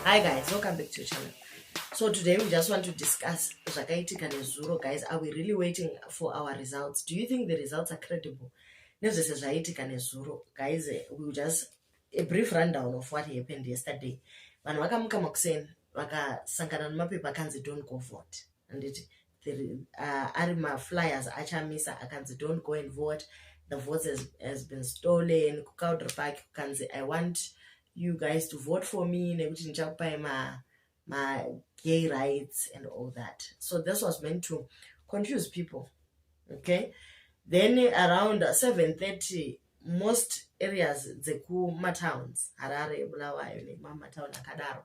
Hi guys, welcome back to your channel. So today we just want to discuss zvakaitika nezuro guys. Are we really waiting for our results? Do you think the results are credible? Nezvese zvaitika nezuro guys, eh, we will just a brief rundown of what happened yesterday. Vanhu vakamuka makuseni vakasangana nemapepa akanzi don't go vote. handiti uh, ari maflyers achamisa akanzi don't go and vote the votes has, has been stolen kucowder park kukanzi i want you guys to vote for me nekuti ndichakupai ma, ma gay rights and all that so this was meant to confuse people okay then around 730 most areas dzekumatowns harare bulawayo nemamatown akadaro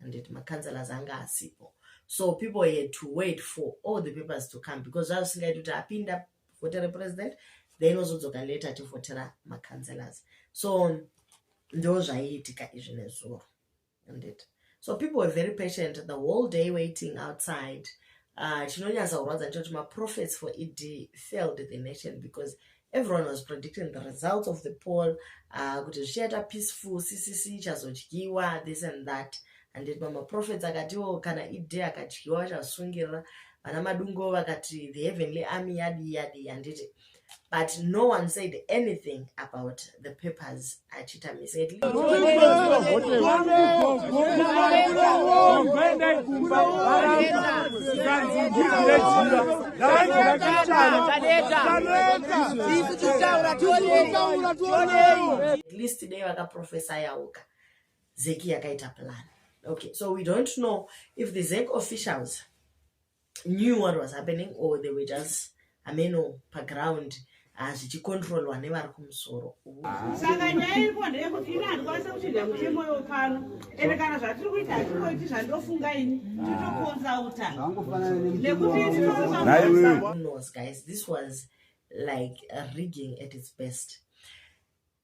handiti macancelors anga asipo so people had to wait for all the papers to come because zvaa zvisingaiti kuti apinda vote represident then ozodzoka later ativhotera macancelors so ndo zvaiitika izvi nezuro handiti so people were very patient the whole day waiting outside uh, chinonyatsa kurwadza nechekuti maprofets for ed failed the nation because everyone was predicting the results of the poll uh, kuti zvichaita peaceful ccc ichazodyiwa this and that and then mamaprofets akatiwo kana ide akadyiwa vachasungirira vana madungo vakati the heavenly army yadi yadi handiti but no one said anything about the papers achiita misi at least dei vakaprofesa yauka zeki yakaita plan okay so we don't know if the zek officials knew what was happening or they were just ameno paground hazvichikontrolwa ah, nevari kumusoro saka nyaya iripo ndeyekuti ini handikwanisa kuchinja mutemo yo pano ende kana zvatiri kuita hatikoiti zvandofunga ini titokonzauta nekutinonos guys this was like rigging at its best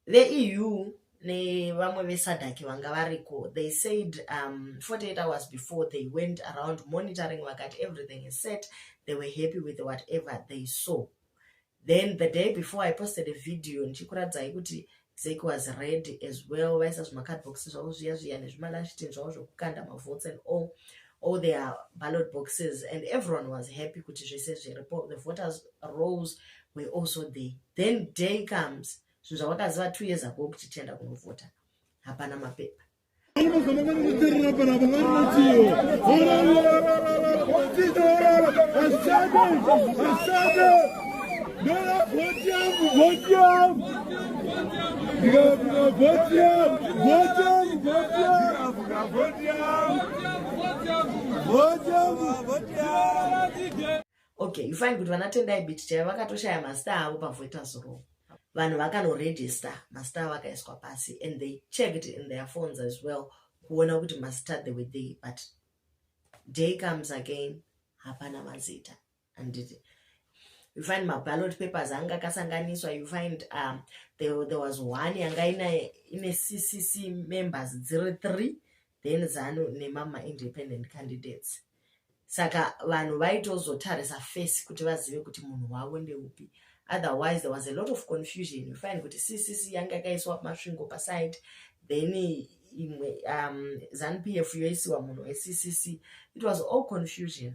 veeu nevamwe vesadhaki vanga variko they said um, 48 hours before they went around monitoring vakati everything is set they were happy with whatever they saw then the day before i posted a video ndichikuradzai kuti zek was ready as well vaisa zvimacardbox zvavo zviya zviya nezvimalashitin zvavo zvokukanda mavotes and all all their ballot boxes and everyone was happy kuti zvese zviripo the voters rolls were also there then day comes zvinhu zvavakaziva two years ago kuti tienda kunovhota hapana mapepa Vote okay you find kuti vana tendai bit chaivo vakatoshaya masta avo pavoita zuro vanhu vakanoregister masta avo akaiswa pasi and they checked in their phones as well kuona kuti masta the way they but day comes again hapana mazita handiti you find maballot papers anga akasanganiswa you find um, there, there was one yanga ine, ine ccc members dziri three then zanu nemama independent candidates saka vanhu vaitozotarisa face kuti vazive kuti munhu wavo ndeupi otherwise there was a lot of confusion you find kuti ccc yanga yakaiswa masvingo paside then imwe um, zanupf yoisiwa munhu weccc it was all confusion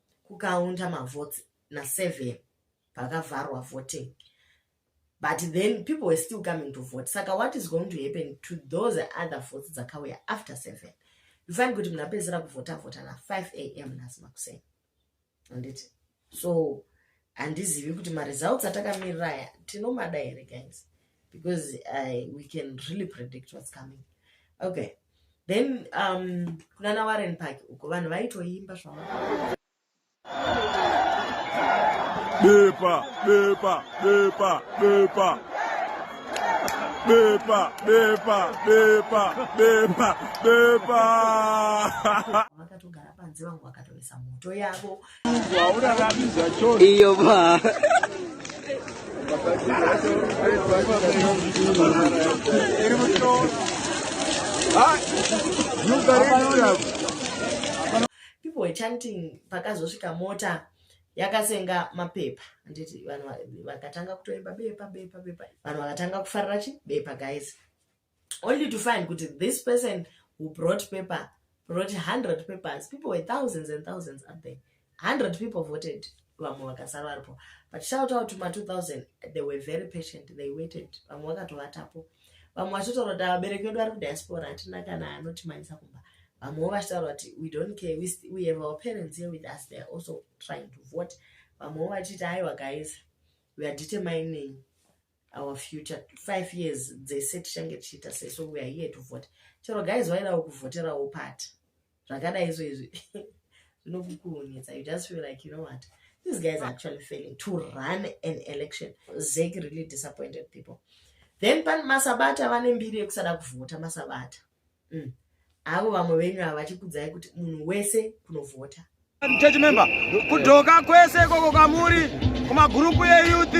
kukaunda mavotes naseven pakavharwa voting but then people were still coming to vote saka what is going to happen to those other votes dzakauya after seven you find kuti munhu apedzera kuvhota vhota na 5 a m nhasi makuseni anditi so handizivi kuti maresults atakamirira aya tinomada here guys because I, we can really predict what's coming okay then um, kunana warren park uko vanhu vaitoimba zvava Bepa, bepa, bepa, bepa. Bepa, bepa, bepa, bepa, bepa. Vakatogara panze vangu vakatoisa moto yavo iyo ba people were chanting pakazosvika mota yakasenga mapepa handiti vanhu vakatanga kutoimba bepa bepa bepa vanhu vakatanga kufarira chi bepa guys only to find kuti this person who brought paper brought 100 papers people were thousands and thousands up there 100 people voted vamwe vakasara varipo but shout out ma 2000 they were very patient they waited vamwe vakatovatapo vamwe vachitaura kuti vabereki vedu vari kudiaspora hatina kana anotimanyisa kumba vamwewo vachitaura kuti we don't care we, we have our parents here with us they are also trying to vote vamwewo vachiti aiwa guys we are determining our future five years dzese tichange tichiita sei so weare here to vote chero guys vairawo kuvhoterawo pati zvakadai izvo izvi zvinokukuhunitsa you just feel like you know what these guys are actually failing to run an election zeki really disappointed people then pan masabata vane mbiri yekusada kuvhota masabata mm. avo vamwe venyu ava vachikudzai kuti munhu wese kunovhota church member kudhoka kwese ikoko kwamuri kumagurupu eyouth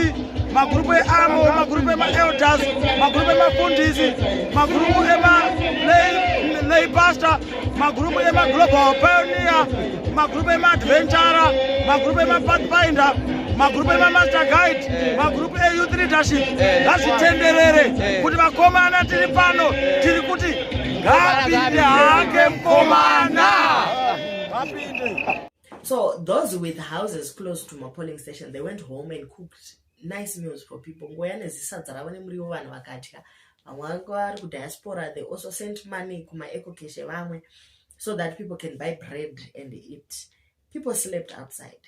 magurupu eamo magurupu emaelders magurupu emafundisi magurupu emalay pastor magurupu emaglobal pioneer magrupu emaadventure magrupu emapathfinder magrupu emamaster guide magrupu eyouth leadership ngazvitenderere kuti vakomana tiri pano tiri kuti ngapinde hake mukomana ngapinde so those with houses close to mapolling station they went home and cooked nice meals for people ngoya nezisadza ravo nemuriwo vanhu vakatya vamwe vange vari kudiaspora they also sent money kumaecocash evamwe so that people can buy bread and eat people slept outside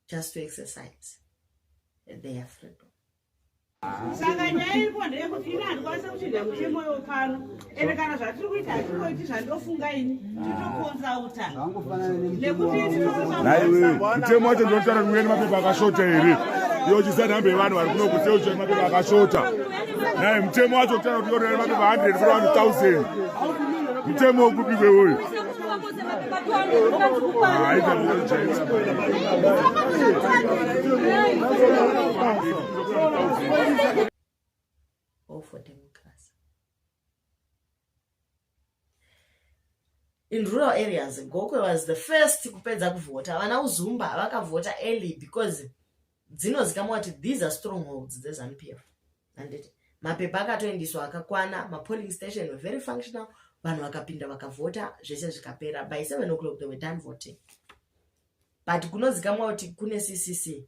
just to exercise their freedom saka nyaya iri kuwa ndeyekuti ini handikwanisa kuchinda mutemo yo pano ende kana zvatiri kuita hatikoiti zvandofunga ini titokonzauta naiwe mutemo wacho ndinotaura kuti uye nemapepa akashota here iyo chisanhambe yevanhu vari kuno kuti uchiya nemapepa akashota nai mutemo wacho kutaura kuti yorera nemapepa 100 kuna vanhu 1000 mutemo wekupi kweuyu haita in rural areas gokwe was the first kupedza kuvhota vana uzumba vakavhota early because dzinozikamwa kuti these are strong holds dzezanup f anditi mapepa akatoendiswa akakwana mapolling station were very functional vanhu vakapinda vakavhota zvese zvikapera by seven o'clock they were done voting but kunozikamwa kuti kune ccc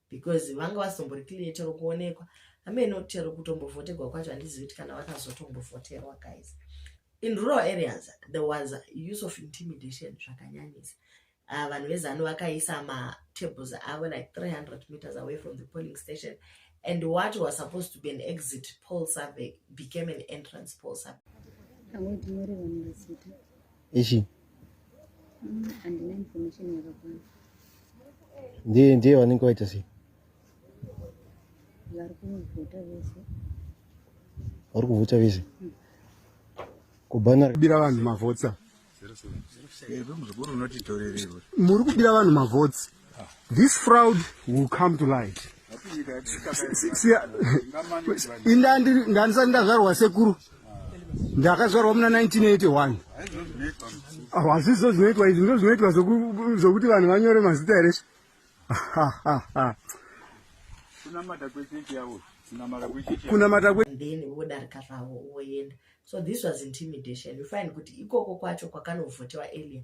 because vanga vasimbori clear chero kuonekwa amene kuti chero kutombovhoterwa kwacho handizivi kuti kana vakazotombovhoterwa guys in rural areas there was use of intimidation zvakanyanyisa uh, vanhu vezanu vakaisa matables avo like 300 meters away from the polling station and what was supposed to be an exit poll survey became an entrance poll survey ichi ndiye ndiye vanenge vaita sei vari kuvhota vese kubhana kubira vanhu mavhotsa muri kubira vanhu mavhotsi this fraud will come to light ndandisati ndazvarwa sekuru ndakazvarwa muna 1981 hazvizo zvinoitwa izvi ndo zvinoitwa zvokuti vanhu vanyore mazita here kunamata kwethen vodarika zvavo voenda so this was intimidation you find kuti ikoko kwacho kwakanovhotewa elia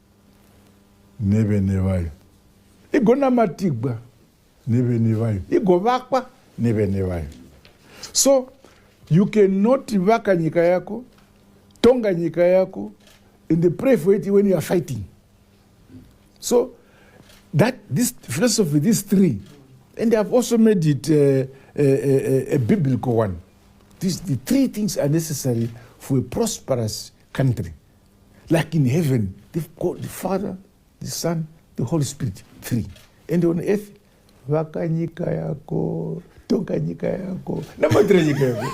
nevene vayo igonamatigwa nevene vayo igovakwa nevene vayo so you cannot vaka nyika yako tonga nyika yako and pray for it when you are fighting so that this philosophy this three and ihave also made it uh, a, uh, a, uh, uh, a biblical one this, the three things are necessary for a prosperous country Like in heaven, they've got the Father, the Son, the Holy Spirit, three. And on earth, vaka nyika yako, tonga nyika yako, namatira nyika yako.